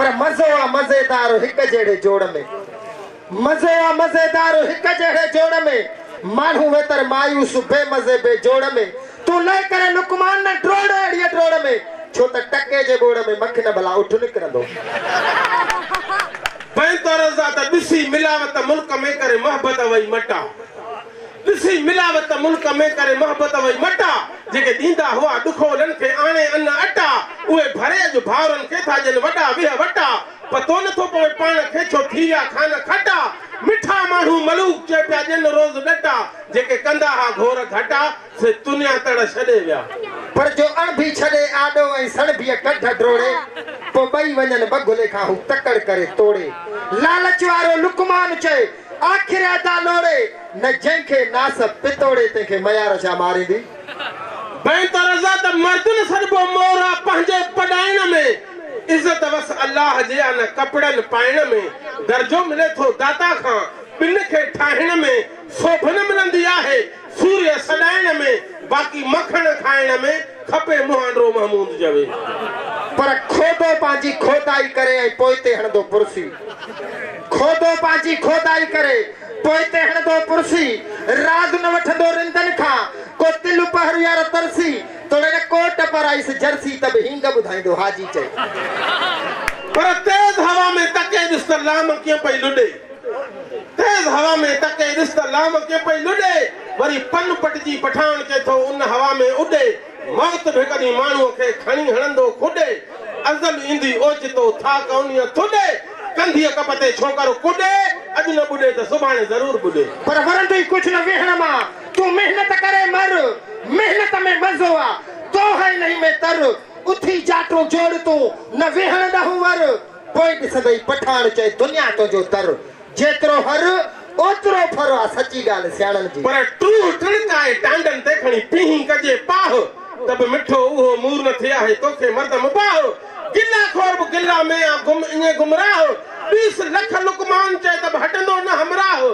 پر مزو آ مزيدار هڪ جهڙي جوڙ ۾. مزو آ مزيدار هڪ جهڙي جوڙ ۾. ماڻهو ويتر مايوس بي مزي بي جوڙ ۾. تون لئي ڪري لقمان نه ڊوڙ اهڙيء ڊوڙ ۾. ڇو ته ٽڪي جي ٻوڙ ۾ مکين ڀلا اٺ نڪرندو. پين تورنزا ته ڏسي ملاوت ملڪ ۾. ڪري محبت وئي مٽا. ڏسي ملاوت ملڪ ۾ ڪري محبت وئي مٽا جيڪي ڏيندا هئا ڏکولن کي آڻي ان اٽا اهي ڀري اڄ ڀائرن کي ٿا ڏين وڏا ويهه وٽا پتو نٿو پوي پاڻ کي ڇو ٿي ويا کان کٽا مٺا ماڻهو ملوڪ چئي پيا ڏين روز ڏٽا جيڪي ڪندا ها گهور گهٽا سي تنيا تڙ ڇڏي ويا. پر جو اڻڀي ڇڏي آڏو ۽ سڻڀيء ڪڍ ڊوڙي پوء ٻئي وڃن ٻگهلي کان هو تڪڙ ڪري توڙي لالچ وارو لقمان چئي آخر ادا لوڙي نه جنهن کي ناس پتوڙي تنهن کي ميار ڇا ماريندي. بهتر ادا ته مرد نه سڏبو مور آ پنهنجي پڏائڻ ۾ عزت وس الله جي آ نه ڪپڙن پائڻ ۾ درجو ملي ٿو داتا کان ٻن کي ٺاهڻ ۾ سوڀ نه ملندي آهي سوريء سڏائڻ ۾، باقي مکڻ کائڻ ۾، کپي مهانڊرو محمود جوي. پر کوڏو پنهنجي کوڏائي ڪري ۽ پوئتي هڻندو پرسي. کوڏو پنهنجي کوڏائي ڪري، پوئتي هڻندو پرسي. راڳ نه وٺندو رندن کان، ڪو تل پهر يار ترسي. توڙي نه ڪوٽ پرائيس جرسي، ته به هينگ ٻڌائيندو حاجي چئي. پر تيز هوا ۾ تڪي ڏس ته لام ڪيئن پئي لڏي. تيز هوا ۾ ٽڪي ڏس ته لامڪي پئي لڏي، وري پن پٽجي پٺاڻ ڪي ٿو ان هوا ۾ اڏي، موت به ڪڏهن ماڻهوء کي کڻي هڻندو ڪڏي، ازل ايندي اوچتو ٿا ڪونيء ٿڏي، ڪنڌيء ڪپ تي ڇوڪر ڪڏي، اڄ نه ٻڏي ته سڀاڻي ضرور ٻڏي. پر ورندئي ڪجهه نه ويهڻ مان، تون محنت ڪري مر، محنت ۾ مزو آ، دونهين نهين ۾ تر، اٿي جاٽون جوڙ تون، نه ويهڻ ڏهون ور. پوء ڏسندئي پٺاڻ چئي دنيا تنهنجو در. جيترو هر، اوترو ڦر آ سچي ڳالهه سياڻن جي. پر ٽوهه ٽڻڪائي ٽانڊن تي کڻي پيهين ڪجي پاهه ته به مٺو اهو مور نه ٿئي آهي توکي مرد مباح. گلا خور به گلا ۾ آ گم ائين گمراهه ڏيس لک لقمان چئي ته به هٽندو نه همراهه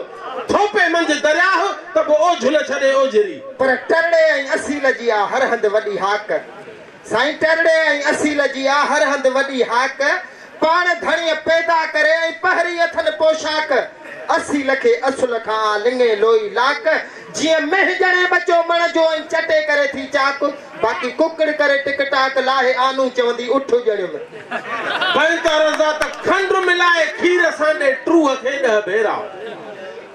ٿوپي منجهه درياهه ته به اوجهه نه ڇڏي اوجهري. پر ٽرڙي ۽ اصيل جي آ هر هنڌ وڏي هاڪ. سائين ٽرڙي ۽ اصيل جي آ هر هنڌ وڏي هاڪ، پاڻ ڌڻيء پيدا ڪري ۽ پهري اٿن پوشاڪ، اصيل کي اصل کان آ لڱي لوئي لاڪ، جيئن مينهن ڄڻي ٻچو مڻ جو ۽ چٽي ڪري ٿي چاڪ، باقي ڪڪڙ ڪري ٽڪ ٽاڪ، لاهي آنون چوندي اٺ ڄڻيو ۾. بنڪارزا ته کنڊ ملائي کير سان ڏي ٽوهه کي ڏهه ڀيرا.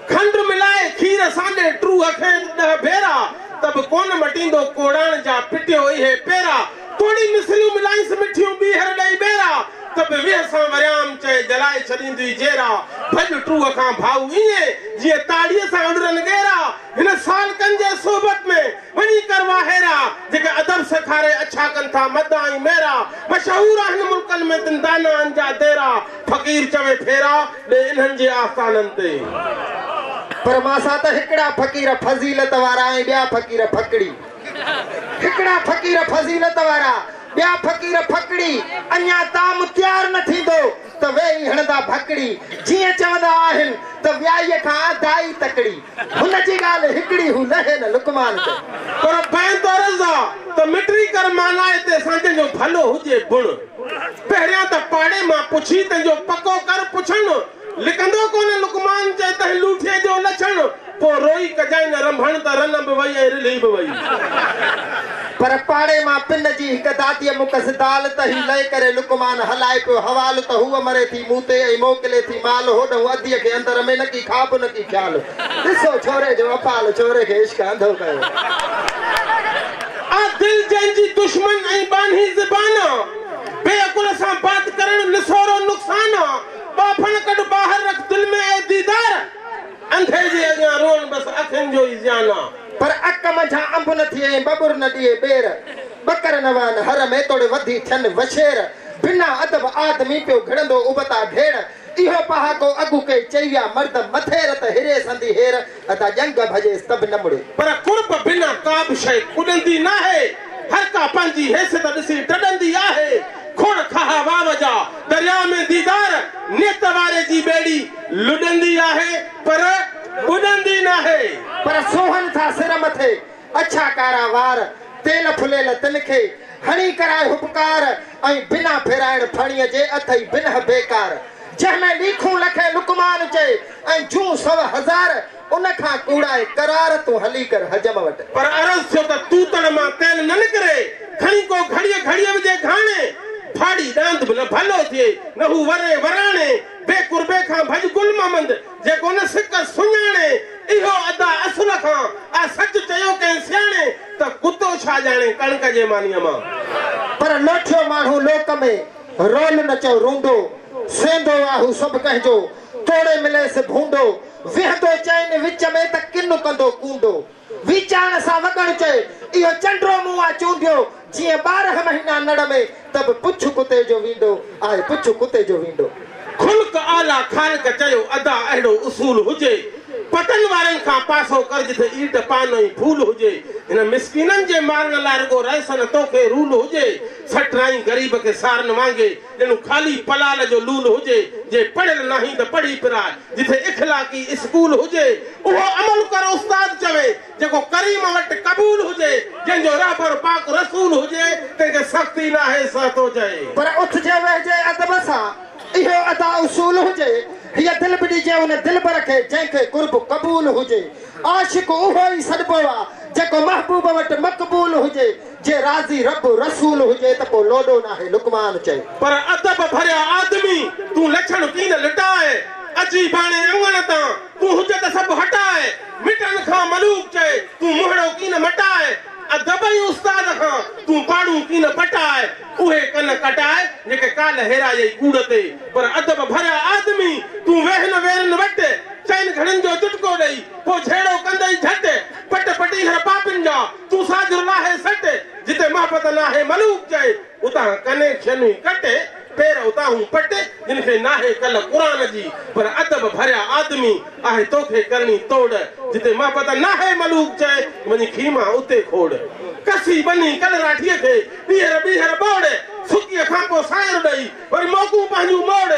کنڊ ملائي کير سانڍي ٽوه کيس ڏهه ڀيرا ته به ڪونه مٽيندو ڪوڙاڻ جا پٽيو اهي پيرا توڙي مصريون ملائينس مٺيون ٻيهر ڏئي ٻيرا ته به ويهه سان وريام چئي جلائي ڇڏيندوئي جيرا ڀڄ ٽوه کان ڀائو ائين جيئن تاڙيء سان اڏرن ڳيرا هن سالڪن جي صحبت ۾ وڃي ڪر واهيرا جيڪي ادب سيکاري اڇا ڪن ٿا مدا ۽ ميرا مشهور آهن ملڪن ۾ تن دانائن جا ديرا فقير چوي ڦيرا ڏي انهن جي آستانن تي. پر مان سان ته هڪڙا فقير فضيلت وارا ۽ ٻيا فقير ڦڪڙي. هڪڙا فقير فضيلت وارا، ٻيا فقير ڦڪڙي. اڃا طعام تيار نه ٿيندو ته ويهي هڻندا ڀڪڙي. جيئن چوندا آهن ته ويائيء کان دائي تڪڙي. هن جي ڳالهه هڪڙي هو لهي نه لقمان تي. پر بينت عرض آ ته مٽري ڪر معنيٰ اتي سانجهن جو ڀلو هجي بڻ. پهريان ته پاڙي مان پڇي تنهنجو پڪو ڪر پڇڻ، لڪندو ڪونه لقمان چئي تنهن لوٺيء جو لڇڻ، پوء روئي ڪجانء رنڀڻ ته رنه به وئي ۽ رلهي به وئي. پر پاڙي مان پن جي هڪ داديء مون کس دال ته هي لئي ڪري لقمان هلائي پيو حوال ته هوء مري ٿي مون تي ۽ موڪلي ٿي مال هوڏنهون اديء کي اندر ۾ نڪي خاب نڪي خيال ڏسو ڇوري جو اپال ڇوري کي عشق انڌو ڪيو. آ دل جنهن جي دشمن ۽ ٻانهي زبان آ بي عقل سان بات ڪرڻ نسورو نقصان آ ٻانڀڻ ڪڍ ٻاهر رک دل ۾ اي ديدار انڌي جي اڳيان روئڻ بس اکين جو ئي زيان آ. پر اک منجهان انب نه ٿئي ۽ ٻٻر نه ڏئي ٻير ٻڪر نه وهن هر ۾ توڙي وڌي ٿين وڇير بنا ادب آدمي پيو گهڙندو ابتا ڍيڙ اهو پهاڪو اڳ ڪئي چئي ويا مرد مٿي رت هري سندي هير ادا ڄنگهه ڀڄيس ته به نه مڙي. پر قرب بنا ڪابه شيء اڏندي ناهي، هر ڪا پنهنجي حيثيت ڏسي ڊڏندي آهي، کوڙ کاها واو جا درياء ۾ ديدار نيت واري جي ٻيڙي لڏندي آهي پر ٻڏندي ناهي. پر سونهن سان سر مٿي اڇا ڪارا وار، تيل ڦليل تن کي، هڻي ڪرائي هٻڪار، ۽ بنا ڦيرائڻ ڦڻيء جي اٿئي بنهه بيڪار. جنهن ۾ ليکون لکين لقمان چئي، ۽ جون سو هزار، ان کان ڪوڙائي قرار، تون هلي ڪر حجم وٽ. پر عرض ٿيو ته توتڻ مان تيل نه نڪري، کڻي ڪو گهڙيء گهڙيء وجهي گهاڻي، ڦاڙي ڏاند به نه ڀلو ٿئي، نه هو وري وراڻي، بي قربي کان ڀڄ گل محمد، جيڪو ان سڪ سڃاڻي، اهو ادا اصل کان آ سچ چيو ڪنهن سياڻي، ته ڪتو ڇا ڄاڻي ڪڻڪ جي مانيء مان. پر لوٺيو ماڻهو لوڪ ۾، رول نه چئو رونڊو، سينڌو آ هو سڀ ڪنهن جو، توڙي مليس ڀونڊو، ويهندو چئن وچ ۾، ته ڪن ڪندو ڪونڊو. وي چاڻ سان وڳڻ چئي، اهو چنڊرو مون آ چونڊيو، جيئن ٻارهن مهينا نڙ ۾، ته به پڇ ڪتي جو ويندو، آء پڇ ڪتي جو ويندو. خلق اعليٰ خالق چيو، ادا اهڙو اصول هجي، پٽن وارن کان پاسو ڪر جتي ايٽ پان ۽ ڦول هجي، هن مسڪينن جي مارڻ لاء رڳو رئيسن توکي رول هجي، سٽرائين غريب کي سارن وانگي، ڄڻ خالي پلال جو لول هجي، جي پڙهيل ناهين ته پڙهي پراء، جتي اخلاقي اسڪول هجي، اهو عمل ڪر استاد چوي، جيڪو ڪريم وٽ قبول هجي، جنهن جو رهبر پاڪ رسول هجي، تنهن کي سختي ناهي سهه ٿو چئي. پر اٿجي ويهجي ادب سان، اهو ادا اصول هجي، هيء دل به ڏجي ان دلبر کي، جنهن کي قرب قبول هجي. عاشق اهو ئي سڏبو آ، جيڪو محبوب وٽ مقبول هجي، جي راضي رب رسول هجي ته پو لوڏو ناهي لقمان چئي. پر ادب ڀريا آدمي تون لڇڻ ڪين لٽاء اچي ڀاڻي اڱڻ تان تون حجت سڀ هٽاء مٽن کان ملوڪ چئي تون منهڙو ڪين مٽاء ادب ۽ استاد کان تون پاڙون ڪين پٽاء اهي ڪن ڪٽاء جيڪي ڪالهه هيرايئي ڪوڙ تي پر ادب ڀريا آدمي تون ويهن ويرن وٽ چئن گهڙين جو چٽڪو ڏئي پو جهيڙو ڪندئي جهٽ پٽ پٽيهر پاپين جا تون ساجھر لاھي سٽ، جتي محبت ناھي ملوڪ چئي، اتان ڪنين شنھي ڪٽ، پير اتاھون پٽ، جن کي ناھي ڪل قرآن جي، پر ادب ڀريا آدمي، آھي توکي ڪرڻي توڙ، جتي محبت ناھي ملوڪ چئي، وڃي کيما اتي کوڙ. ڪسي ٻنھي ڪلراٺيء کي، ٻيھر ٻيھر ٻوڙ، سڪيء کان پوء سانئر ڏئي، وري موڪون پنھنجون موڙ،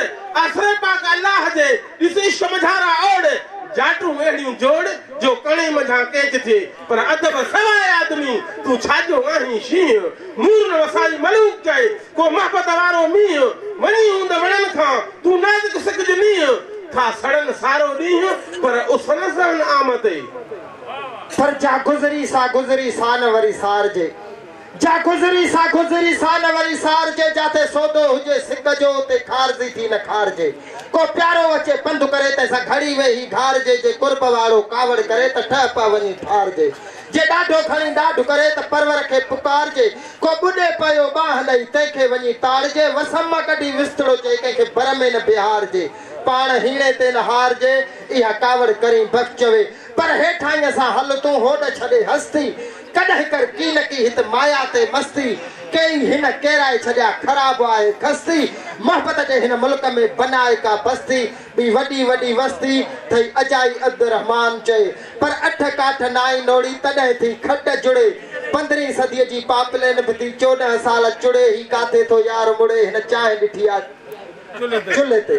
آسري پاڪ الله جي، ڏس عشق مجھارا اوڙ، جاٽون اھڙيون جوڙ، جو ڪڻي منجھان ڪيچ ٿئي، پر ادب سواء آدمي، تون ڇاجو آهين شينهن. مور نه وسائي ملوڪ چئي، ڪو محبت وارو مينهن. وڃي هوند وڻن کان، تون نازڪ سڪج نينهن. ٿا سڙن سارو ڏينهن، پر اس نه سهن آمتئي. پر جا گذري سا گذري، سا نه وري سارجي. جا گذري سا گذري سا نه وري سارجي جاتي سودو هجي سڪ جو اتي خارزي ٿي نه کارجي ڪو پيارو اچي پنڌ ڪري تنهن سان گهڙي ويهي گهارجي جي قرب وارو ڪاوڙ ڪري ته ٺهه پئه وڃي ٺارجي جي ڏاڍو کڻي ڏاڍ ڪري ته پرور کي پڪارجي ڪو ٻڏي پيو ٻانهن ڏئي تنهن کي وڃي تاڙجي وسم مان ڪڍي وسٽڙو چئي ڪنهن کي بر ۾ نه بيهارجي پاڻ هيڻي تي نه هارجي اها ڪاوڙ ڪرين بف چوي پر هيٺائينء سان هل تون هوڏ ڇڏي هستي ڪڏهن ڪر ڪي نه ڪي هت مايا تي مستي ڪيئي هن ڪيرائي ڇڏيا خراب آهي کستي محبت جي هن ملڪ ۾ بنائي ڪا بستي ٻي وڏي وڏي وستي ٿئي اجائي عبدالرحمان چئي پر اٺ ڪاٺ نائين نوڙي تڏهن ٿي کٽ جڙي پندرهين صدي جي پاپلين به ٿي چوڏهن سال چڙي هي ڪاٿي ٿو يار مڙي هن چانهه ڏٺي آ چلهي تي.